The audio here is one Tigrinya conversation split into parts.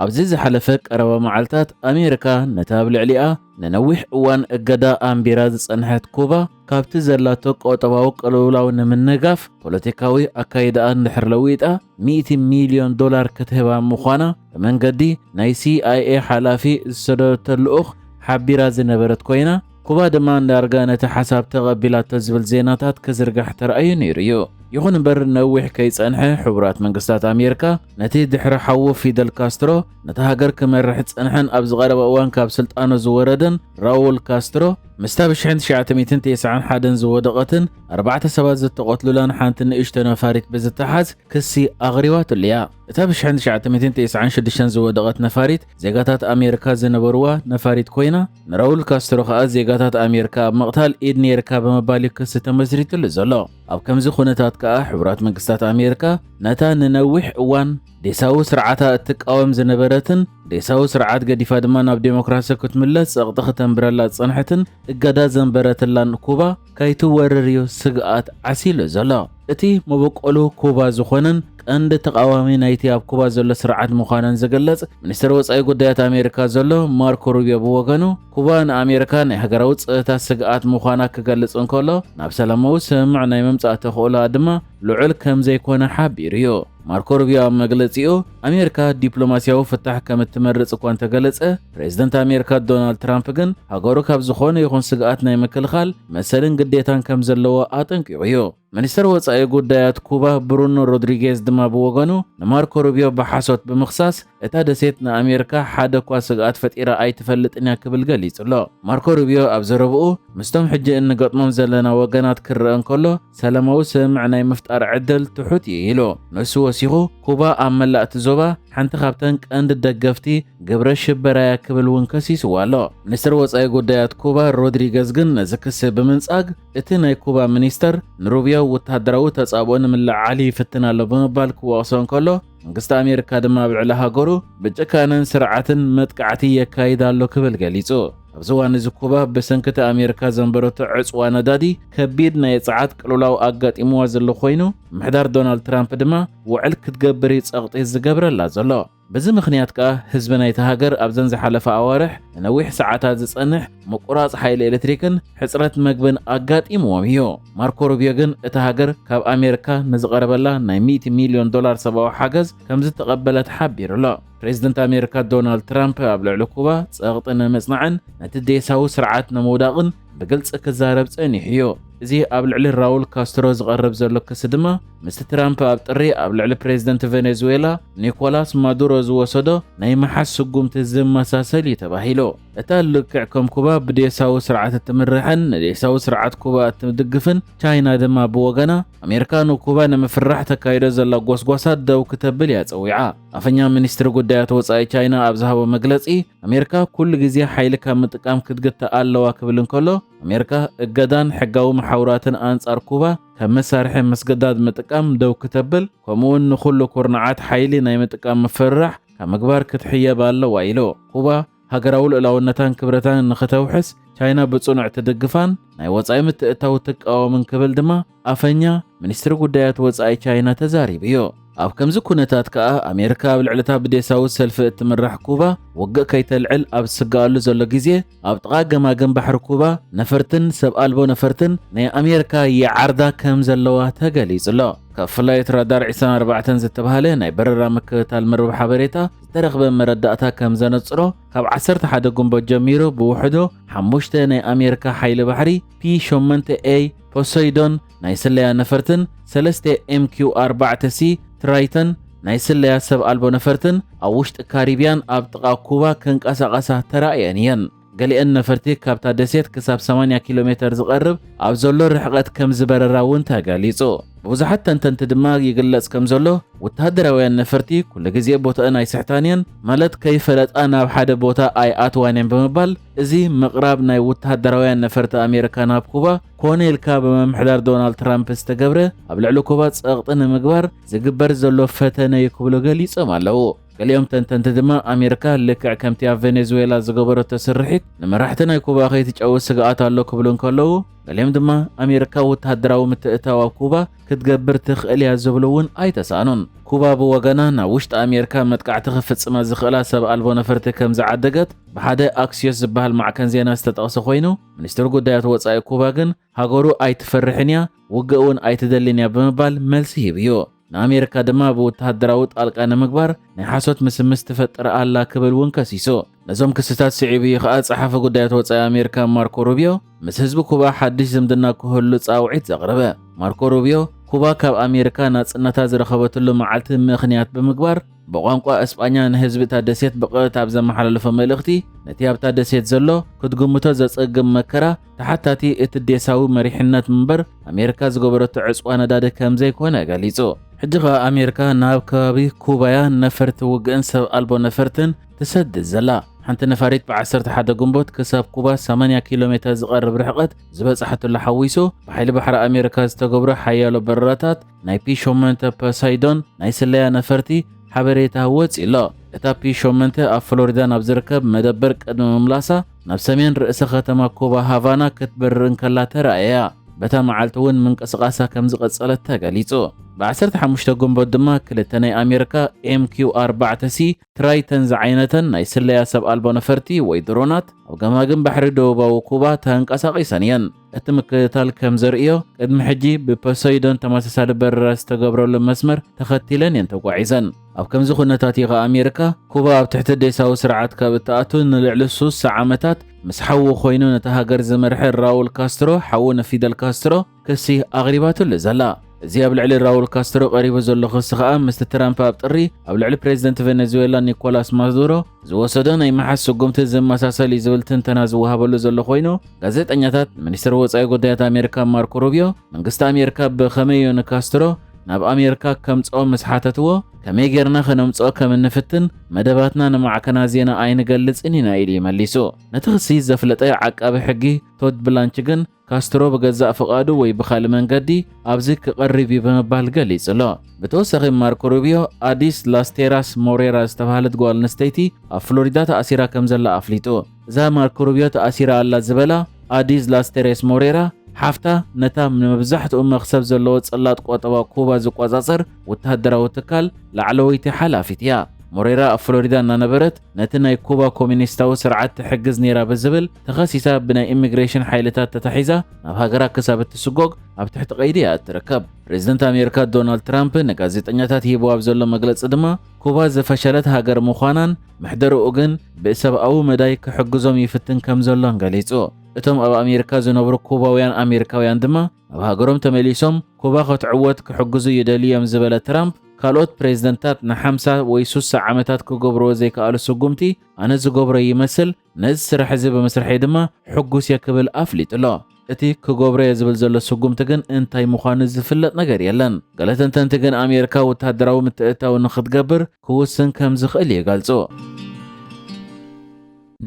ኣብዚ ዝሓለፈ ቀረባ መዓልታት ኣሜሪካ ነታ ኣብ ልዕሊኣ ንነዊሕ እዋን እገዳ ኣንቢራ ዝጸንሐት ኩባ ካብቲ ዘላቶ ቁጠባዊ ቅልውላው ንምንጋፍ ፖለቲካዊ ኣካይዳኣ እንድሕር ለዊጣ ሚእቲ ሚልዮን ዶላር ክትህባ ምዃና ብመንገዲ ናይ ሲኣይኤ ሓላፊ ዝሰደደቶ ልኡኽ ሓቢራ ዝነበረት ኮይና ኩባ ድማ ዳርጋ ነቲ ሓሳብ ተቐቢላቶ ዝብል ዜናታት ክዝርጋሕ ተራእዩ ነይሩ እዩ። ይኹን እምበር ነዊሕ ከይጸንሐ ሕቡራት መንግስታት ኣሜሪካ ነቲ ድሕሪ ሓዉ ፊደል ካስትሮ ነታ ሃገር ክመርሕ ዝጸንሐን ኣብዚ ቀረባ እዋን ካብ ስልጣኑ ዝወረደን ራውል ካስትሮ ምስታ ብሽሕን ትሽዓተ ሚእትን ቴስዓን ሓደን ዝወደቐትን ኣርባዕተ ሰባት ዝተቐትሉላን ሓንቲ ንእሽቶ ነፋሪት ብዝተሓዝ ክሲ ኣቕሪባትሉ እያ። እታ ብሽሕን ትሽዓተ ሚእትን ቴስዓን ሽዱሽተን ዝወደቐት ነፋሪት ዜጋታት ኣሜሪካ ዝነበርዋ ነፋሪት ኮይና ንራውል ካስትሮ ከኣ ዜጋታት ኣሜሪካ ኣብ ምቕታል ኢድ ነይርካ ብምባል እዩ ክሲ ተመስሪትሉ ዘሎ። ኣብ ከምዚ ኩነታት ከኣ ሕቡራት መንግስታት ኣሜሪካ ነታ ንነዊሕ እዋን ዴሳዊ ስርዓታ እትቃወም ዝነበረትን ዴሳዊ ስርዓት ገዲፋ ድማ ናብ ዴሞክራሲ ክትምለስ ጸቕጢ ክተንብረላ ዝጸንሐትን እገዳ ዘንበረትላን ኩባ ከይትወርር'ዩ ስግኣት ዓሲሉ ዘሎ። እቲ መበቆሉ ኩባ ዝኾነን ቀንዲ ተቓዋሚ ናይቲ ኣብ ኩባ ዘሎ ስርዓት ምዃነን ዝግለጽ ሚኒስተር ወጻኢ ጉዳያት ኣሜሪካ ዘሎ ማርኮ ሩብዮ ብወገኑ ኩባ ንኣሜሪካ ናይ ሃገራዊ ጸጥታ ስግኣት ምዃና ክገልጽ እንከሎ ናብ ሰላማዊ ስምምዕ ናይ ምምጻእ ተኽእሎኣ ድማ ልዑል ከምዘይኮነ ሓቢሩ'ዩ። ማርኮ ሩቢዮ ኣብ መግለጺኡ፣ ኣሜሪካ ዲፕሎማስያዊ ፍታሕ ከም እትመርጽ እኳ እንተገለጸ፣ ፕሬዝደንት ኣሜሪካ ዶናልድ ትራምፕ ግን ሃገሩ ካብ ዝኾነ ይኹን ስግኣት ናይ ምክልኻል መሰልን ግዴታን ከም ዘለዎ ኣጠንቂቑ እዩ። ሚኒስተር ወጻኢ ጉዳያት ኩባ ብሩኖ ሮድሪጌዝ ድማ ብወገኑ ንማርኮ ሩቢዮ ብሓሶት ብምኽሳስ እታ ደሴት ንኣሜሪካ ሓደ እኳ ስግኣት ፈጢራ ኣይትፈልጥን እያ ክብል ገሊጹ ኣሎ። ማርኮ ሩቢዮ ኣብ ዘረብኡ ምስቶም ሕጂ እንገጥሞም ዘለና ወገናት ክረአ እንከሎ ሰለማዊ ስምምዕ ናይ ምፍጣር ዕድል ትሑት እዩ ኢሉ። ንሱ ወሲኹ ኩባ ኣብ መላእ እቲ ዞባ ሓንቲ ካብተን ቀንዲ ደገፍቲ ግብረ ሽበራ እያ ክብል እውን ከሲስዋ ኣሎ። ሚኒስትር ወጻኢ ጉዳያት ኩባ ሮድሪገዝ ግን ነዚ ክሲ ብምንጻግ እቲ ናይ ኩባ ሚኒስተር ንሩብዮ ወተሃደራዊ ተጻብኦ ንምልዕዓል ይፍትን ኣሎ ብምባል ክወቕሶ እንከሎ፣ መንግስቲ ኣሜሪካ ድማ ኣብ ልዕሊ ሃገሩ ብጭካነን ስርዓትን መጥቃዕቲ የካይድ ኣሎ ክብል ገሊጹ። ኣብዚ እዋን እዚ ኩባ ብሰንኪ እቲ ኣሜሪካ ዘንበረቶ ዕጽዋ ነዳዲ ከቢድ ናይ ጸዓት ቅልውላው ኣጋጢምዋ ዘሎ ኮይኑ ምሕዳር ዶናልድ ትራምፕ ድማ ውዕል ክትገብር እዩ ጸቕጢ ዝገብረላ ዘሎ። በዚ ምኽንያት ከኣ ህዝቢ ናይቲ ሃገር ኣብዘን ዝሓለፋ ኣዋርሕ ንነዊሕ ሰዓታት ዝጸንሕ ምቁራጽ ሓይሊ ኤሌክትሪክን ሕጽረት መግብን ኣጋጢምዎም እዩ። ማርኮ ሩብዮ ግን እታ ሃገር ካብ ኣሜሪካ ንዝቐረበላ ናይ ሚእቲ ሚልዮን ዶላር ሰብኣዊ ሓገዝ ከምዝተቐበለት ሓቢሩ ኣሎ። ፕሬዝደንት ኣሜሪካ ዶናልድ ትራምፕ ኣብ ልዕሊ ኩባ ጸቕጢ ንምጽናዕን ነቲ ዴሳዊ ስርዓት ንምውዳቕን ብግልጺ ክዛረብ ጸኒሑ እዩ። እዚ ኣብ ልዕሊ ራውል ካስትሮ ዝቐርብ ዘሎ ክሲ ድማ ምስቲ ትራምፕ ኣብ ጥሪ ኣብ ልዕሊ ፕሬዝደንት ቬኔዙዌላ ኒኮላስ ማዱሮ ዝወሰዶ ናይ ምሓዝ ስጉምቲ ዝመሳሰል እዩ ተባሂሉ። እታ ልክዕ ከም ኩባ ብዴሳዊ ስርዓት እትምራሕን ንዴሳዊ ስርዓት ኩባ እትድግፍን ቻይና ድማ ብወገና፣ ኣሜሪካ ንኩባ ንምፍርራሕ ተካይዶ ዘላ ጎስጓሳት ደው ክተብል እያ ጸዊዓ። ኣፈኛ ሚኒስትሪ ጉዳያት ወጻኢ ቻይና ኣብ ዝሃቦ መግለጺ፣ ኣሜሪካ ኩሉ ግዜ ሓይሊ ካብ ምጥቃም ክትግታእ ኣለዋ ክብል እንከሎ፣ ኣሜሪካ እገዳን ሕጋዊ መሓውራትን ኣንጻር ኩባ ከም መሳርሒ ምስግዳድ ምጥቃም ደው ክተብል፣ ከምኡ'ውን ንኹሉ ኩርናዓት ሓይሊ ናይ ምጥቃም ምፍርራሕ፣ ካብ ምግባር ክትሕየብ ኣለዋ ኢሉ። ኩባ ሃገራዊ ልኡላውነታን ክብረታን ንክተውሕስ ቻይና ብጽኑዕ ትድግፋን ናይ ወጻኢ ምትእትታው ትቃወምን ክብል ድማ ኣፈኛ ሚኒስትሪ ጉዳያት ወጻኢ ቻይና ተዛሪቡ'ዩ። ኣብ ከምዚ ኩነታት ከኣ ኣሜሪካ ኣብ ልዕሊ'ታ ብዴሳዊ ሰልፊ እትምራሕ ኩባ ውግእ ከይተልዕል ኣብ እትስግኣሉ ዘሎ ግዜ፣ ኣብ ጥቓ ገማግም ባሕሪ ኩባ ነፈርትን ሰብ ኣልቦ ነፈርትን ናይ ኣሜርካ ይዓርዳ ከም ዘለዋ ተገሊጹ'ሎ። ካብ ፍላይት ራዳር ዒስራን ኣርባዕተን ዝተባህለ ናይ በረራ ምክትታል መርበብ ሓበሬታ ዝተረኽበ መረዳእታ ከም ዘነጽሮ ካብ ዓሰርተ ሓደ ግንቦት ጀሚሩ ብውሕዱ ሓሙሽተ ናይ ኣሜርካ ሓይሊ ባሕሪ ፒ ሸሞንተ ኤይ ፖሰይዶን ናይ ስለያ ነፈርትን ሰለስተ ኤምኪው ኣርባዕተ ሲ ትራይተን ናይ ስለያ ሰብ ኣልቦ ነፈርትን ኣብ ውሽጢ ካሪብያን ኣብ ጥቓ ኩባ ከንቀሳቐሳ ተራእየን እየን። ገሊአን ነፈርቲ ካብታ ደሴት ክሳብ 80 ኪሎ ሜተር ዝቐርብ ኣብ ዘሎ ርሕቐት ከም ዝበረራ እውን ተገሊጹ። ብብዙሓት ተንተንቲ ድማ ይግለጽ ከም ዘሎ ወተሃደራውያን ነፈርቲ ኩሉ ግዜ ቦታአን ኣይስሕታን እየን፣ ማለት ከይፈለጣ ናብ ሓደ ቦታ ኣይኣትዋን እየን ብምባል እዚ ምቕራብ ናይ ወተሃደራውያን ነፈርቲ ኣሜሪካ ናብ ኩባ ኮነ ኢልካ ብምምሕዳር ዶናልድ ትራምፕ ዝተገብረ ኣብ ልዕሊ ኩባ ጸቕጢ ንምግባር ዝግበር ዘሎ ፈተነ እዩ ክብሉ ገሊጾም ኣለዉ። ገሊኦም ተንተንቲ ድማ ኣሜሪካ ልክዕ ከምቲ ኣብ ቬኔዙዌላ ዝገበረቶ ስርሒት ንመራሕቲ ናይ ኩባ ከይትጨዊ ስግኣት ኣሎ ክብሉ እንከለዉ ገሊኦም ድማ ኣሜሪካ ወተሃደራዊ ምትእታው ኣብ ኩባ ክትገብር ትኽእል እያ ዝብሉ እውን ኣይተሳእኑን። ኩባ ብወገና ናብ ውሽጢ ኣሜሪካ መጥቃዕቲ ክፍጽማ ዝኽእላ ሰብ ኣልቦ ነፈርቲ ከም ዝዓደገት ብሓደ ኣክስዮስ ዝበሃል ማዕከን ዜና ዝተጠቕሰ ኮይኑ ሚኒስትር ጉዳያት ወጻኢ ኩባ ግን ሃገሩ ኣይትፈርሕን እያ፣ ውግእ እውን ኣይትደልን እያ ብምባል መልሲ ሂቡ እዩ። ንኣሜሪካ ድማ ብውተሃደራዊ ጣልቃ ንምግባር ናይ ሓሶት ምስምስ ትፈጥር ኣላ ክብል እውን ከሲሱ። ነዞም ክስታት ስዒቡ እዩ ከኣ ጸሓፊ ጉዳያት ወጻኢ ኣሜሪካ ማርኮ ሩብዮ ምስ ህዝቢ ኩባ ሓድሽ ዝምድና ክህሉ ጻውዒት ዘቕረበ። ማርኮ ሩብዮ ኩባ ካብ ኣሜሪካ ናጽነታ ዝረኸበትሉ መዓልቲ ምኽንያት ብምግባር ብቋንቋ እስጳኛ ንህዝቢ እታ ደሴት ብቐጥታ ኣብ ዘመሓላለፎ መልእኽቲ፣ ነቲ ኣብታ ደሴት ዘሎ ክትግምቶ ዘጸግም መከራ ተሓታቲ እቲ ዴሳዊ መሪሕነት ምበር ኣሜሪካ ዝገበረቶ ዕጽዋ ነዳዲ ከምዘይኮነ ገሊጹ። ሕጂ ከኣ ኣሜሪካ ናብ ከባቢ ኩባ'ያ ነፈርቲ ውግእን ሰብ ኣልቦ ነፈርትን ትሰድድ ዘላ። ሓንቲ ነፋሪት ብ ዓሰርተ ሓደ ግንቦት ክሳብ ኩባ ሰማንያ ኪሎ ሜተር ዝቐርብ ርሕቐት ዝበጽሓትሉ ሓዊሱ ብሓይሊ ባሕሪ ኣሜሪካ ዝተገብሩ ሓያሎ በረራታት ናይ ፒ-ሾመንተ ፐሳይዶን ናይ ስለያ ነፈርቲ ሓበሬታ ወጺእ'ሎ። እታ ፒ-ሾመንተ ኣብ ፍሎሪዳ ናብ ዝርከብ መደበር ቅድሚ ምምላሳ ናብ ሰሜን ርእሰ ከተማ ኩባ ሃቫና ክትበርር እንከላ ተራእያ። በታ መዓልቲ'ውን ምንቅስቓሳ ከም ዝቐጸለት ተገሊጹ። ብዓሰርተ ሓሙሽተ ግንቦት ድማ ክልተ ናይ ኣሜሪካ ኤምኪው ኣርባዕተ ሲ ትራይተን ዝዓይነተን ናይ ስለያ ሰብ ኣልቦ ነፈርቲ ወይ ድሮናት ኣብ ገማግም ባሕሪ ደቡባዊ ኩባ ተንቀሳቒሰን እየን። እቲ ምክትታል ከም ዘርእዮ፣ ቅድሚ ሕጂ ብፖሰይዶን ተመሳሳሊ በረራ ዝተገብረሉ መስመር ተኸቲለን እየን ተጓዒዘን። ኣብ ከምዚ ኩነታት እዩ ከኣ ኣሜሪካ፣ ኩባ ኣብ ትሕቲ ዴሳዊ ስርዓት ካብ እትኣቱ ንልዕሊ ሱሳ ዓመታት ምስ ሓዉ ኮይኑ ነታ ሃገር ዝመርሐ ራውል ካስትሮ፣ ሓዉ ንፊደል ካስትሮ፣ ክሲ ኣቕሪባትሉ ዘላ። እዚ ኣብ ልዕሊ ራውል ካስትሮ ቀሪቡ ዘሎ ክሲ ከኣ ምስቲ ትራምፕ ኣብ ጥሪ ኣብ ልዕሊ ፕሬዝደንት ቬነዝዌላ ኒኮላስ ማዱሮ ዝወሰዶ ናይ ምሓዝ ስጉምቲ ዝመሳሰል እዩ ዝብል ትንተና ዝወሃበሉ ዘሎ ኮይኑ ጋዜጠኛታት ሚኒስትሪ ወፃኢ ጉዳያት ኣሜሪካ ማርኮ ሩቢዮ መንግስቲ ኣሜሪካ ብኸመይ እዩ ንካስትሮ ናብ ኣሜሪካ ከምፅኦ ምስ ሓተትዎ ከመይ ጌርና ከነምፅኦ ከም እንፍትን መደባትና ንማዕከና ዜና ኣይንገልፅን ኢና ኢሉ እዩ መሊሱ። ነቲ ክሲ ዘፍለጠ ዓቃቢ ሕጊ ቶድ ብላንች ግን ካስትሮ ብገዛእ ፍቓዱ ወይ ብኻልእ መንገዲ ኣብዚ ክቐርብ እዩ ብምባል ገሊጹ'ሎ። ብተወሳኺ ማርኮ ሩቢዮ ኣዲስ ላስቴራስ ሞሬራ ዝተባህለት ጓል ኣንስተይቲ ኣብ ፍሎሪዳ ተኣሲራ ከም ዘላ ኣፍሊጡ። እዛ ማርኮ ሩቢዮ ተኣሲራ ኣላ ዝበላ ኣዲስ ላስቴሬስ ሞሬራ ሓፍታ ነታ ንመብዛሕትኡ መኽሰብ ዘለዎ ጽላት ቆጠባ ኩባ ዝቆጻጸር ወተሃደራዊ ትካል ላዕለወይቲ ሓላፊት እያ። ሞሬራ ኣብ ፍሎሪዳ እናነበረት ነቲ ናይ ኩባ ኮሚኒስታዊ ስርዓት ትሕግዝ ነይራ ብዝብል ተኸሲሳ ብናይ ኢሚግሬሽን ሓይልታት ተታሒዛ ናብ ሃገራ ክሳብ እትስጎግ ኣብ ትሕቲ ቀይዲ እያ እትርከብ። ፕሬዝደንት ኣሜሪካ ዶናልድ ትራምፕ ንጋዜጠኛታት ሂብዎ ኣብ ዘሎ መግለጺ ድማ ኩባ ዝፈሸለት ሃገር ምዃናን ምሕደርኡ ግን ብሰብኣዊ መዳይ ክሕግዞም ይፍትን ከም ዘሎን ገሊጹ። እቶም ኣብ ኣሜሪካ ዝነብሩ ኩባውያን ኣሜሪካውያን ድማ ናብ ሃገሮም ተመሊሶም ኩባ ከትዕወት ክሕግዙ ይደልዩ እዮም ዝበለ ትራምፕ ካልኦት ፕሬዝደንታት ንሓምሳ ወይ ሱሳ ዓመታት ክገብርዎ ዘይከኣሉ ስጉምቲ ኣነ ዝገብሮ ይመስል ነዚ ስራሕ እዚ ብምስርሐይ ድማ ሕጉስ እየ ክብል ኣፍሊጡ ኣሎ። እቲ ክገብሮ እየ ዝብል ዘሎ ስጉምቲ ግን እንታይ ምዃኑ ዝፍለጥ ነገር የለን። ገለ ተንተንቲ ግን ኣሜሪካ ወተሃደራዊ ምትእትታው ንኽትገብር ክውስን ከም ዝኽእል ይገልጹ።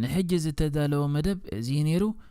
ንሕጂ ዝተዳለወ መደብ እዚ እዩ ነይሩ።